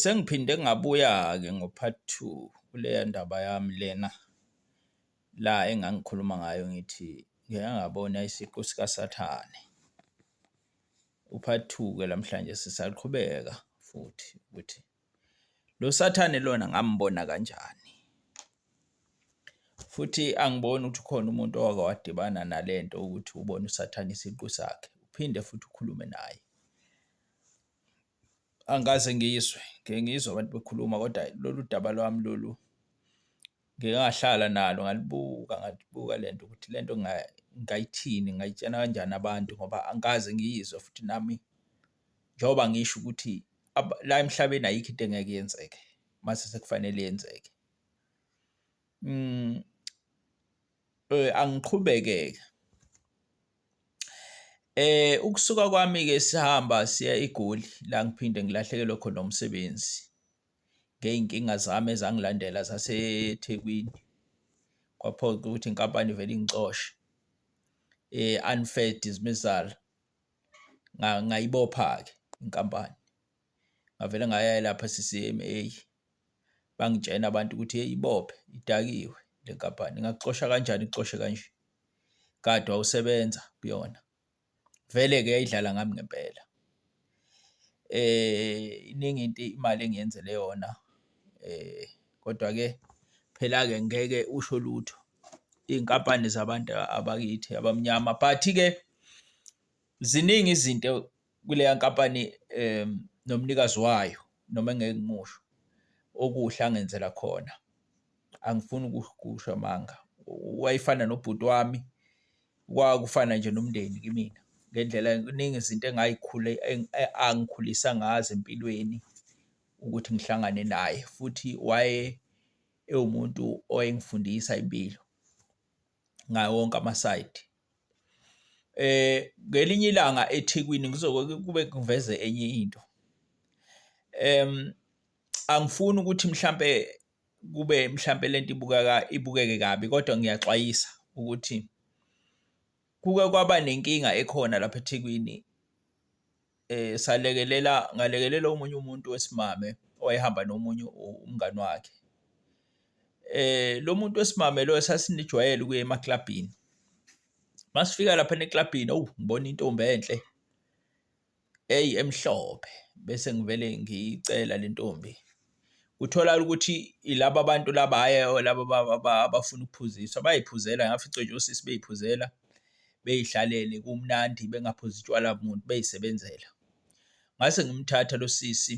Sengiphinde ngabuya-ke ngo-part two kuleya ndaba yami lena la engangikhuluma ngayo ngithi ngike ngabona isiqu sikaSathane. U-part two-ke namhlanje sisaqhubeka futhi ukuthi lo Sathane lona ngambona kanjani, futhi angiboni ukuthi ukhona umuntu owake wadibana nale nto ukuthi ubone uSathane isiqu sakhe, uphinde futhi ukhulume naye. Angikaze ngizwe, ngike ngizwe abantu bekhuluma kodwa hhayi lolu daba lwami lolu ngike ngahlala nalo ngalibuka, ngalibuka le nto ukuthi le nto ngingayithini, ngingayitshena kanjani abantu ngoba angikaze ngiyizwa futhi nami njengoba ngisho ukuthi la emhlabeni ayikho into engeke yenzeke mase sekufanele yenzeke . Eh angiqhubeke-ke ukusuka kwami-ke sihamba siya eGoli la ngiphinde ngilahlekelwe khona umsebenzi ngey'nkinga zami ezangilandela zaseThekwini. Kwaphoqa ukuthi inkampani ivele ingixoshe unfair dismissal ngayibopha-ke inkampani ngavele ngaya lapha e-C_C_M_A. Bangitshena abantu ukuthi hheyi ibophe, idakiwe le nkampani, ingakuxosha kanjani ikuxoshe kanje. Kade wawusebenza kuyona. Vele-ke yayidlala ngami ngempela. Iningi into imali engiyenzele yona kodwa-ke phela-ke ngeke usho lutho, iy'nkampani zabantu abakithi abamnyama. But-ke ziningi izinto kuleya nkampani nomnikazi wayo noma engeke ngimusho okuhle angenzela khona angifuni ukukusho amanga wayefana nobhuti wami kwakufana nje nomndeni kimina ngendlela kuningi izinto engayikhule angikhulisa ngazo empilweni ukuthi ngihlangane naye futhi waye ewumuntu owayengifundisa impilo ngawo wonke amasayidi. Ngelinye ilanga eThekwini kuzoke kube kuveze enye into, angifuni ukuthi mhlampe kube mhlampe le nto ibukeka ibukeke kabi kodwa ngiyaxwayisa ukuthi kuke kwaba nenkinga ekhona lapha eThekwini. um salekelela ngalekelela omunye umuntu wesimame owayehamba nomunye umngani wakhe. Um lo muntu wesimame loyo sasinijwayele ukuya emaklabhini. Uma sifika laphana eklabhini, owu ngibona intombi enhle, eyi emhlophe bese ngivele ngiyicela le ntombi. kutholakala ukuthi ilaba bantu laba hhayi laba abafuna ukuphuziswa bayiphuzela ngafica nje osisi beyiphuzela beyihlalele kumnandi bengaphuzi utshwala muntu beyisebenzela. Ngase ngimthatha lo sisi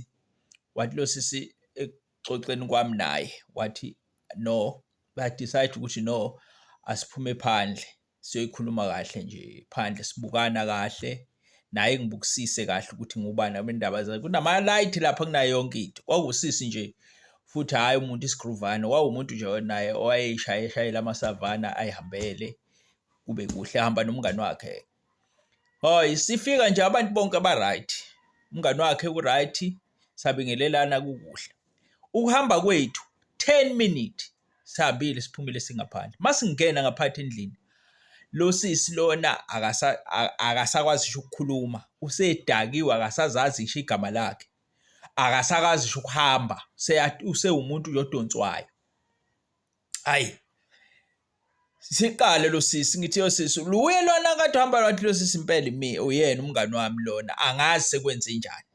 wathi lo sisi ekuxoxeni kwami naye wathi no ba-decide ukuthi no asiphume phandle. siyoyikhuluma kahle nje phandle sibukana kahle naye ngibukisise kahle ukuthi ngubani abendaba zakhe kunama-light lapha kunayo yonke into kwawusisi nje futhi hhayi umuntu isigruvane wawumuntu nje naye owayeshayeshayela amasavana ayihambele kube kuhle hamba nomngani wakhe hoy sifika nje abantu bonke aba-right umngani wakhe u-right sabingelelana kukuhle ukuhamba kwethu 10 minutes sihambile siphumile singaphandle masingena ngaphathi endlini lo sisi lona akasa akasakwazi ngisho ukukhuluma usedakiwe akasazazi ngisho igama lakhe akasakazi ngisho ukuhamba usewumuntu nje odonswayo hayi siqale lo sisi ngithi yo sisi luye lona kade uhamba lwathi lo sisi impela mi uyena umngani wami lona angazi sekwenze njani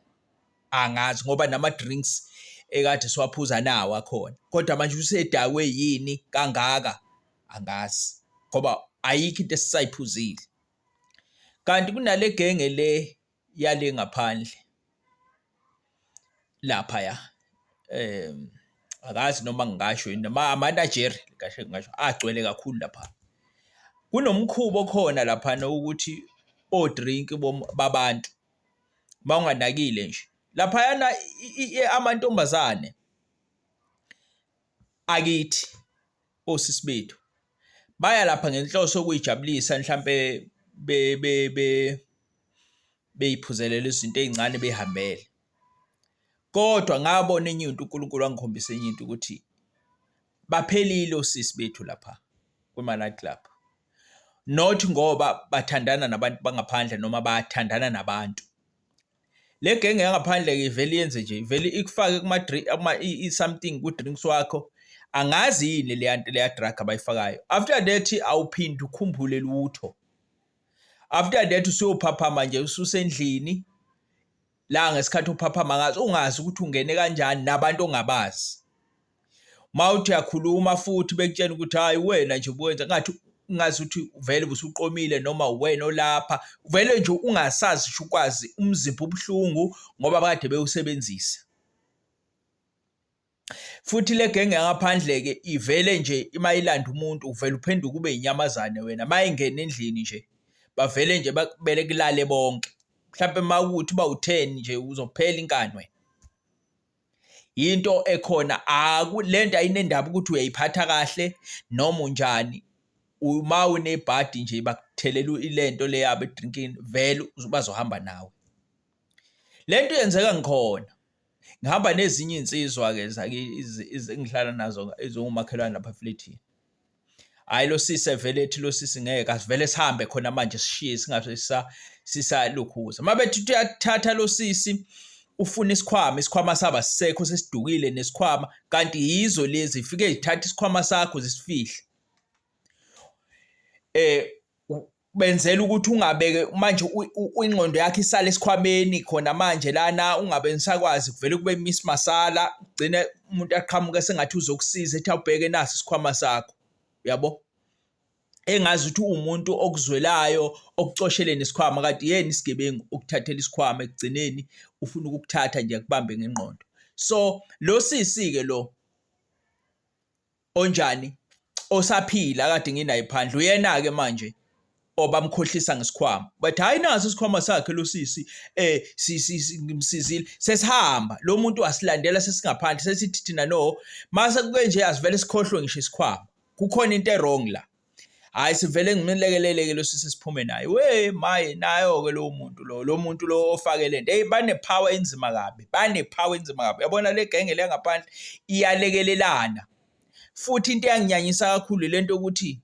angazi ngoba nama-drinks ekade siwaphuza nawo akhona, kodwa manje usedakwe yini kangaka angazi ngoba ayikho into esisayiphuzile. Kanti kunale genge le yale ngaphandle laphaya angazi noma ngingasho yini noma amanajeri kahle ngingasho agcwele kakhulu lapha. Kunomkhuba okhona laphana ukuthi o-drink babantu. uma unganakile nje. Laphayana amantombazane akithi osisi bethu baya lapha ngenhloso yokuyijabulisa mhlampe be be be beyiphuzelela izinto ezincane behambele kodwa ngabona enye into uNkulunkulu wangikhombisa enye into ukuthi baphelile osisi bethu lapha kwi-night club not ngoba bathandana nabantu bangaphandle noma bathandana nabantu le genge yangaphandle ke vele yenze nje vele ikufake kuma drink ama something ku drinks wakho angazi yini le yanto le drug abayifakayo after that awuphindi ukhumbule lutho after that usuyophaphama nje ususendlini la ngesikhathi uphaphama ngaso ungazi ukuthi ungene kanjani nabantu ongabazi mawuthi uyakhuluma futhi bekutshena ukuthi hayi wena nje ubuwenza ngathi ungazi ukuthi vele busuqomile noma wena olapha vele nje ungasazi sho ukwazi umzimba ubuhlungu ngoba kade bewusebenzisa Futhi le genge yangaphandle-ke ivele nje uma ilanda umuntu uvele uphenduke ube inyamazane wena. Uma ingena endlini nje bavele nje bakubele kulale bonke. Mhlampe uma ukuthi uba u-ten nje uzophela inkani wena. Yinto ekhona le nto ayinendaba ukuthi uyayiphatha kahle noma unjani. Uma unebhadi nje bakuthelela ile nto le yabo edrinkini vele bazohamba nawe. Le nto yenzeka ngikhona. Ngihamba nezinye iy'nsizwa-ke engihlala nazo eziwumakhelwane lapha eflethini. Hhayi lo sisi evele ethi lo sisi ngeke asivele sihambe khona manje sishiye singabe sisalukhuza. Uma bethi uyakuthatha lo sisi ufuna isikhwama, isikhwama sabo asisekho sesidukile nesikhwama kanti yizo lezi zifike zithathe isikhwama sakho zisifihle. benzela ukuthi ungabeke manje ingqondo yakhe isale esikhwameni khona manje lana ungabe nisakwazi kuvele kube miss masala ugcine umuntu aqhamuke sengathi uzokusiza ethi awubheke nasi isikhwama sakho uyabo engazi ukuthi uwumuntu okuzwelayo okucosheleni isikhwama kade yena isigebengu ukuthathela isikhwama ekugcineni ufuna ukukuthatha nje kubambe ngenqondo so lo sisi ke lo onjani osaphila akade nginaye phandle uyena-ke manje obamkhohlisa ngesikhwama but hhayi naso isikhwama sakhe lo sisi um ngimsizile sesihamba lo muntu asilandela sesingaphandle sesithi thina no mase kube nje asivele sikhohlwe ngisho isikhwama kukhona into erong la hayi sivele ngimlekelele ke losisi siphume naye we maye nayo ke lo muntu lo lo muntu lo ofake lento hey bane power enzima kabi bane power enzima kabi yabona le genge le ngaphandle iyalekelelana futhi into eyanginyanyisa kakhulu lento ukuthi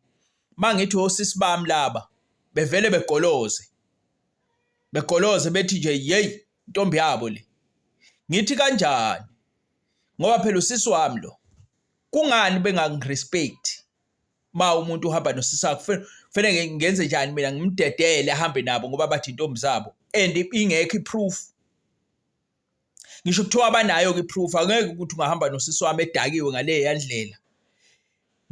mangithi osisi bami laba bevele begoloze begoloze bethi nje hey intombi yabo le ngithi kanjani ngoba phela usisi wami lo kungani bengangirespect uma umuntu uhamba nosisi wakhe kufanele ngenze njani mina ngimdedele ahambe nabo ngoba bathi intombi zabo and ingekho iproof ngisho kuthiwa abanayo ke iproof angeke ukuthi ungahamba nosisi wami edakiwe ngale yandlela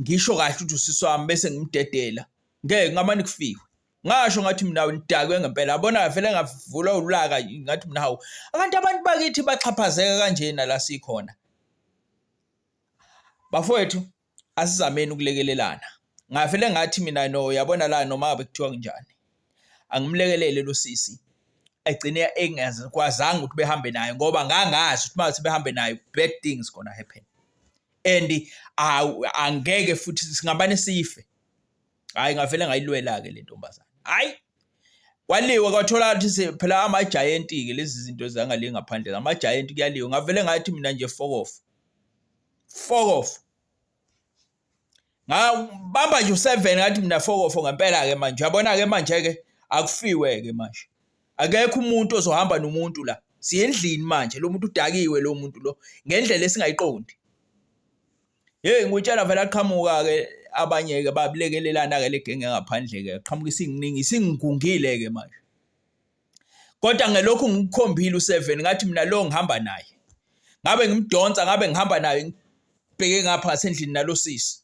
ngisho kahle ukuthi usisi wami bese ngimdedela ngeke ngamane kufiwe ngasho ngathi mina ngidakwe ngempela abona vele ngavula ulaka ngathi mina hawu abantu abantu bakithi baxhaphazeka kanjena la sikhona bafowethu asizameni ukulekelelana ngavele ngathi mina no yabona la noma ngabe kuthiwa kunjani angimlekelele lo sisi egcine engazikwazanga ukuthi behambe naye ngoba ngangazi ukuthi mase behambe naye bad things gonna happen and angeke futhi singabane sife hayi ngavele ngayilwela ke le ntombazana hayi kwaliwa kwathola ukuthi phela ama giant ke lezi zinto zangale ngaphandle ama giant kuyaliwa ngavele ngathi mina nje fokofu fokof ngabamba nje u7 ngathi mina fokof ngempela ke manje yabona ke manje ke akufiwe ke manje akekho umuntu ozohamba nomuntu la siyendlini manje lo muntu udakiwe lo muntu lo ngendlela esingayiqondi hey ngutshela vele aqhamuka ke abanye ke babulekelelana ke legenge ngaphandle ke qhamuka isingningi singigungile ke manje kodwa ngelokhu ngikukhombile u7 ngathi mina lo ngihamba naye ngabe ngimdonsa ngabe ngihamba naye ngibheke ngapha ngasendlini nalosisi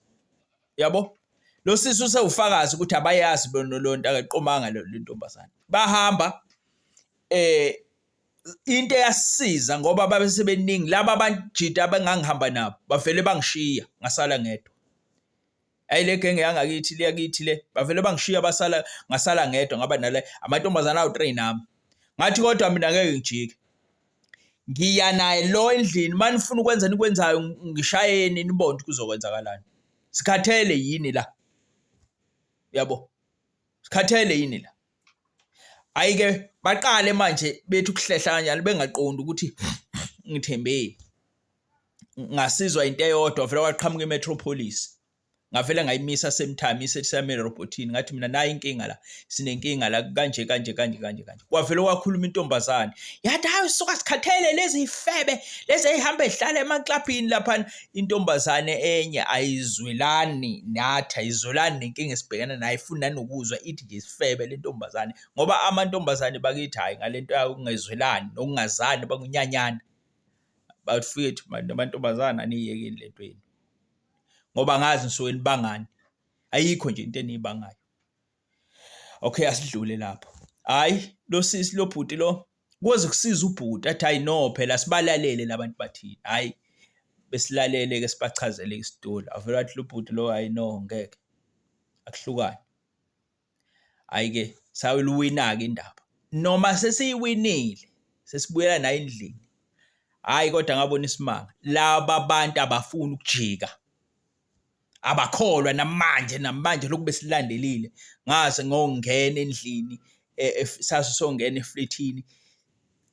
yabo lo sisi usewufakazi ukuthi abayazi bona lo nto akaqomanga le ntombazane bahamba eh into eyasiza ngoba babe sebeningi laba banjita abengangihamba nabo bavele bangishiya ngasala ngedwa ayi le genge yangakithi le yakithi le bavele bangishiya basala ngasala ngedwa ngaba nale amantombazana awu train nami ngathi kodwa mina ngeke ngijike ngiya naye lo endlini manifuna ukwenza nikwenzayo ngishayeni nibonde kuzokwenzakalani sikhathele yini la yabo sikhathele yini la hayi ke baqale manje bethi ukuhlehla kanjani bengaqondi ukuthi ngithembeni ngasizwa into eyodwa vele waqhamuka imetropolis ngavele ngayimisa semthami isesamele robotini ngathi mina nayi inkinga la sinenkinga la kanje kanje kanje kanje kanje kwavele wakhuluma intombazane yathi hayi suka sikhathele lezi ifebe lezi ehamba ehlala emaclubini lapha Intombazane enye ayizwelani nathi, ayizwelani nenkinga esibhekene nayo, ayifuni nanokuzwa ithi nje isifebe le ntombazane ngoba amantombazane bakithi hhayi ngale nto yokungezwelani nokungazani bakunyanyana. Bafwethu bantu amantombazane aniyekeni le nto yenu ngoba angazi nisuke nibangani, ayikho nje into eniyibangayo. okay asidlule lapho hayi lo sisi lo bhuti lo koze kusiza ubhuti athi hayi no phela sibalalele labantu bathini hayi besilalele ke sibachazele isitori avela wathi lo bhuti lo hayi no ngeke akuhlukane hayi ke sayiluwina ke indaba noma sesiyiwinile sesibuyela naye endlini hayi kodwa ngabona isimanga laba bantu abafuni ukujika abakholwa namanje namanje lokhu besilandelile ngaze ngongena endlini e, e, sasu songena eflethini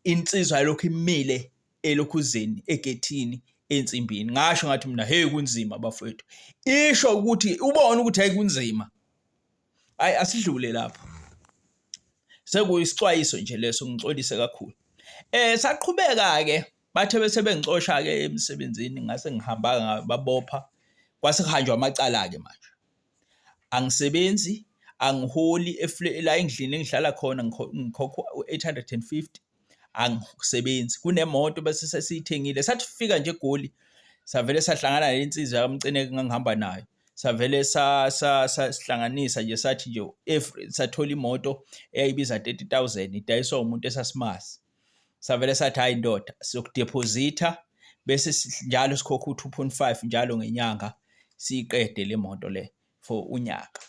insizwa lokhu imile elokhuzeni egethini ensimbini ngasho ngathi mina hey kunzima bafowethu isho ukuthi ubona ukuthi hayi kunzima hayi asidlule lapho sekuyisixwayiso nje leso ngixolise kakhulu eh saqhubeka ke Bathe bese bengicosha-ke emsebenzini ngase ngihamba babopha kwase kuhanjwa amacala-ke manje. Angisebenzi, angiholi la endlini engihlala khona ngikhokha u-eight hundred and fifty, angisebenzi. Kunemoto bese sesiyithengile, sathi fika nje eGoli savele sahlangana nensizwa yakamcineke engangihamba nayo savele sihlanganisa nje sathi nje if sathola imoto eyayibiza 30000 idayiswa umuntu esasimazi savele sathi hayi ndoda sizokudephozitha bese njalo sikhokha u-2.5 njalo ngenyanga siyiqede le moto le for unyaka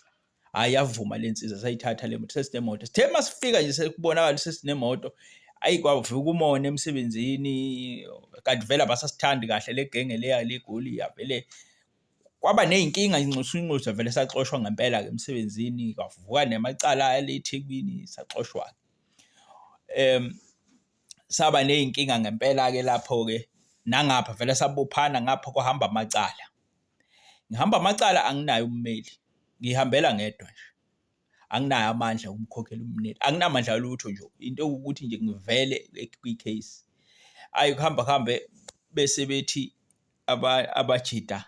hayi yavuma le nsiza sayithatha le moto sesinemoto sithe uma sifika nje sekubonakala sesinemoto ayi kwavuka umona emsebenzini kanti vele abasasithandi kahle le genge leya legoli yavele kwaba ney'nkinga inxusa inxusa vele saxoshwa ngempela-ke emsebenzini kwavuka nemacala ale ethekwini saxoshwa-ke Saba ney'nkinga ngempela-ke lapho-ke nangapha vele sabophana ngapha kwahamba amacala. Ngihamba amacala anginaye ummeli, ngiy'hambela ngedwa nje, anginaye amandla okukhokhela ummeli, anginamandla alutho nje, into ewukuthi nje ngivele kwi-case. Ayi ukuhamba kuhambe bese bethi abajita.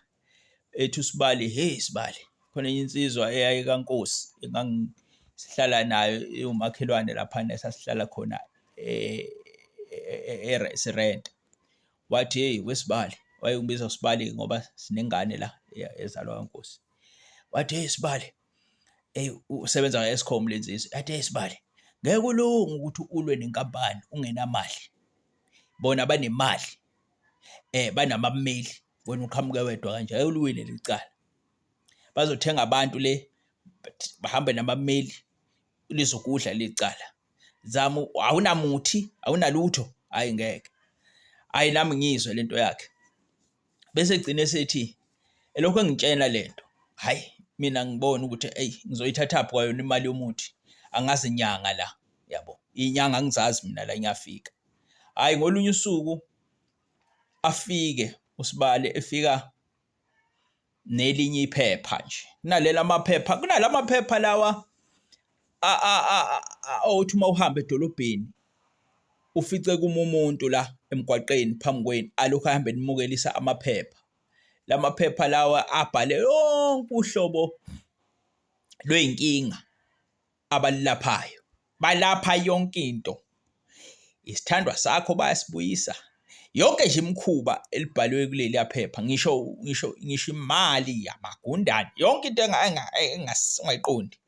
ethi usibali he sibali khona enye insizwa eyayikankosi engangisihlala nayo iwumakhelwane laphana esasihlala khona eh, eh, eh, sirenta wathi hey wesibali wayengibiza usibali ngoba sinengane la ezalwa kankosi wathi hey sibali hey usebenza nge-escom lensizwa yathi hey sibali ngeke ulunge ukuthi ulwe nenkampani ungenamali bona banemali banabameli wena uqhamuke wedwa kanje, hhayi uliwine leli cala. Bazothenga abantu le bahambe nabameli lizokudla leli cala. Zama awunamuthi awunalutho, hhayi ngeke. Hhayi nami ngiyizwe le nto yakhe. Bese egcine esethi elokhu engitshena le nto, hhayi mina ngibona ukuthi eyi ngizoyithathaphi kwayona imali yomuthi angazi nyanga la yabo. Iy'nyanga angizazi mina la ngiyafika. hhayi ngolunye usuku afike uSibali efika nelinye iphepha nje kunaleli amaphepha kunala maphepha lawa othi uma uhamba edolobheni ufice kuma umuntu la emgwaqeni phambi kwenu alokhu ahambe nimukelisa amaphepha lamaphepha lawa abhale yonke uhlobo lwey'nkinga. abalilaphayo balapha yonke into. Isithandwa sakho bayasibuyisa yonke nje imikhuba elibhalwe kuleliya phepha ngisho ngisho ngisho imali yamagundane yonke into engayiqondi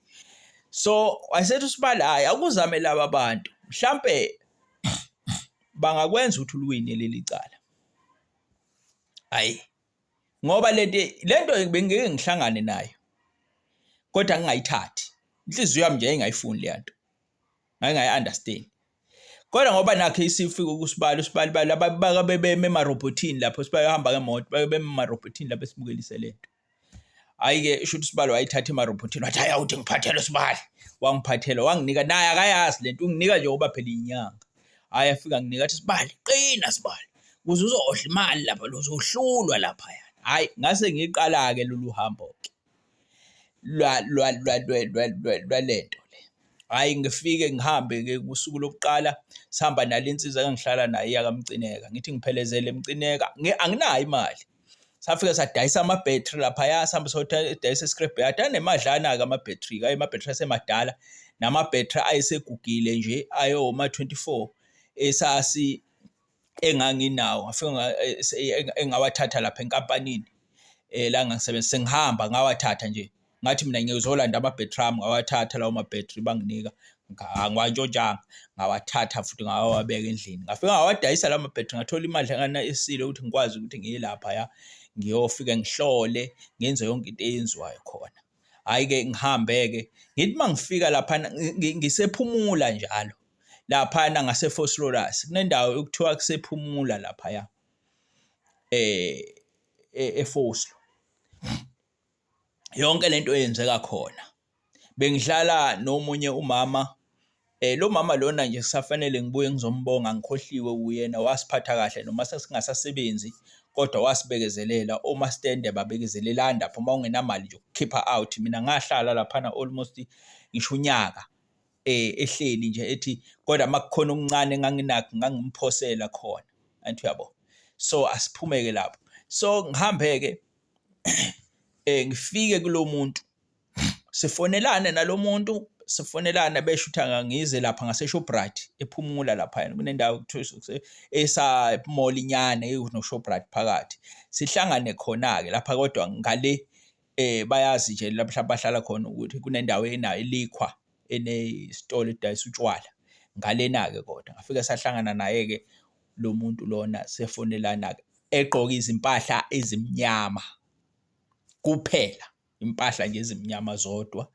so wayesethi usibala hayi akuzame laba bantu mhlambe bangakwenza ukuthi uliwine leli cala ayi ngoba lento lento bengeke ngihlangane nayo kodwa ngingayithathi inhliziyo yami nje ingayifuni le nto ngingayi understand kodwa ngoba nakhe isifika ukusibala usibali bala babaka bebeme emarobhothini lapho sibaya hamba ngemoto babeme emarobhothini lapho simukelise lento hayi ke isho ukuthi sibali wayithatha emarobhothini wathi hayi awuthi ngiphathele sibali wangiphathela wanginika naye akayazi lento unginika nje ngoba phela inyanga hhayi afika nginika athi sibali qina sibali kuze uzodla imali lapha lozohlulwa laphaya hhayi ngase ngiqala-ke lolu hambo-ke lwalento le hhayi ngifike ngihambe-ke kusuku lokuqala sihamba nale nsizwa engihlala nayo yakamcineka ngithi ngiphelezele mcineka anginayo imali safike sadayisa ama-battery laphaya sihambe sodayisa i-scrap yard anemadlana-ke ama-battery-ke ayo ama-battery asemadala nama-battery ayesegugile nje ayoma-24 esasi enganginawo ngafika engawathatha lapha enkampanini um la ngangisebenza sengihamba ngawathatha nje ngathi mina ngiyozolanda ama-battery ami ngawathatha lawo ma-battery banginika ngiwantshontshanga ngawathatha futhi ngawawabeka endlini ngafika ngawadayisa lawo ma-battery ngathola imali engana esile ukuthi ngikwazi ukuthi ngiye lapha ya ngiyofike ngihlole ngenze yonke into eyenziwayo khona hhayi-ke ngihambe-ke ngithi uma ngifika laphana ngisephumula njalo laphana ngasefoslorus kunendawo okuthiwa kusephumula laphaya um efoslo yonke lento eyenzeka khona bengihlala nomunye umama lo mama lona nje kusafanele ngibuye ngizombonga ngikhohliwe uyena wasiphatha kahle noma sesingasasebenzi kodwa wasibekezelela omastende babekezelela lapho uma ungenamali nje ukukhipha out mina ngahlala laphana almost ngisho unyaka ehleli nje ethi kodwa makukhona okuncane enganginakho ngangimphosela khona angithi uyabo so asiphumeke lapho so ngihambe ke. ngifike kulo muntu sifonelane nalo muntu sifonelana besho ukuthi angangize lapha ngaseShoprite ephumula laphayana kunendawo kuthiwa esa-mall inyana enoShoprite phakathi sihlangane khona-ke lapha kodwa ngale eh bayazi nje lapha bahlala khona ukuthi kunendawo enayo elikhwa enesitolo edayisa utshwala ngalena-ke kodwa ngafike sahlangana naye-ke lo muntu lona sefonelana-ke egqoke izimpahla ezimnyama kuphela, impahla nje ezimnyama zodwa.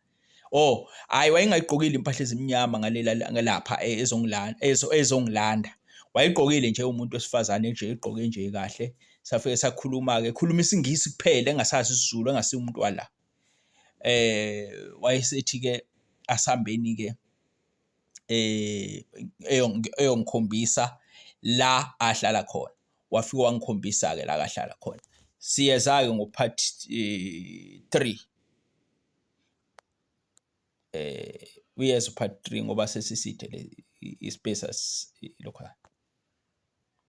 Oh, hhayi wayengayigqokile impahla ezimnyama ngalela lapha e, ezongilanda ezongilanda. Wayegqokile nje umuntu wesifazane nje egqoke nje kahle. Safike sakhuluma-ke, ekhuluma isiNgisi kuphela engasazi isiZulu engasiye umuntu wala. Eh wayesethi-ke asihambeni-ke eyongikhombisa la ahlala khona. Wafike wangikhombisa-ke la akahlala khona. Siyeza-ke ngo-part three uyeza u-part three ngoba sesiside le i-space lokho .